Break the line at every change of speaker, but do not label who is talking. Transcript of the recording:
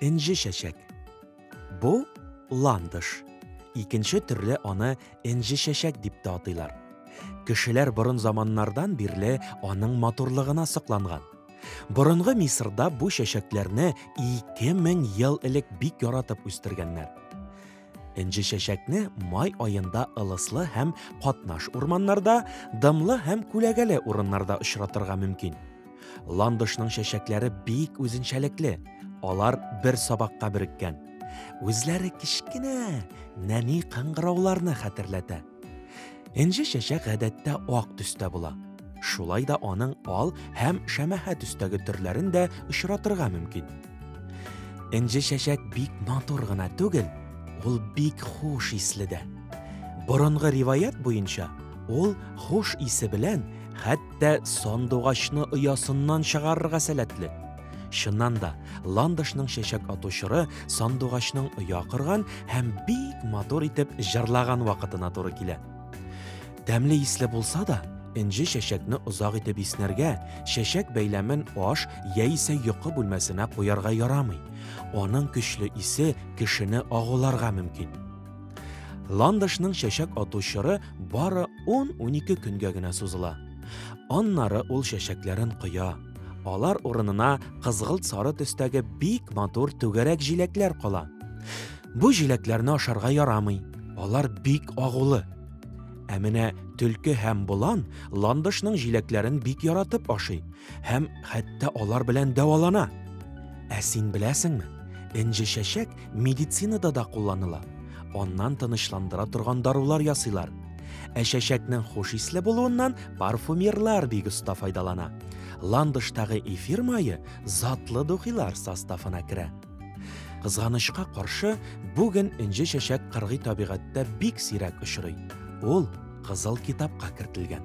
Энҗе чәчәк. Бу ландыш. Икенче төрле аны энҗе чәчәк дип тә атыйлар. Кешеләр борын заманнардан бирле аның матурлыгына сокланган. Борынгы Мисырда бу чәчәкләрне 2000 ел элек бик яратып үстергәннәр. Энҗе чәчәкне май аенда ылыслы һәм катнаш урманнарда, дымлы һәм күләгәле урыннарда очратырга мөмкин. Ландышның чәчәкләре бик үзенчәлекле. Алар бер сабакка биреккән. Үзләре кечкенә, нәни кыңгырауларны хәтерләтә. Энҗе чәчәк гадәттә ак төстә була. Шулай да аның ал һәм шәмәхә төстәге төрләрен дә очратырга мөмкин. Энҗе чәчәк бик матур гына түгел, ул бик хуш исле дә. Борынгы риваять буенча, ул хуш исе белән хәтта Әлбәттә, сандугачны оясыннан чыгарырга сәләтле. Чыннан да, ландышның чәчәк атучыры сандугачның оя кырган һәм бик матур итеп җырлаган вакытына туры килә. Тәмле исле булса да, энҗе чәчәкне озак итеп иснәргә, чәчәк бәйләмен аш яисә йокы бүлмәсенә куярга ярамый. Аның көчле исе кешене агуларга мөмкин. Ландышның чәчәк ату чоры бары 10-12 көнгә генә сузыла. Аннары ул чәчәкләрен коя. Алар урынына кызгылт сары төстәге бик матур түгәрәк җиләкләр кала. Бу җиләкләрне ашарга ярамый. Алар бик агулы. Ә менә төлке һәм болан ландышның җиләкләрен бик яратып ашый һәм хәтта алар белән дәвалана. Ә син беләсеңме? Энҗе чәчәк медицинада да кулланыла. Аннан тынычландыра торган дарулар ясыйлар. Ә чәчәкнең хуш исле булуыннан парфюмерлар бик оста файдалана. Ландыштагы эфир мае затлы духилар составына керә. Кызганычка каршы, бүген инҗе чәчәк кыргый табигатьтә бик сирәк очрый. Ул кызыл китапка кертелгән.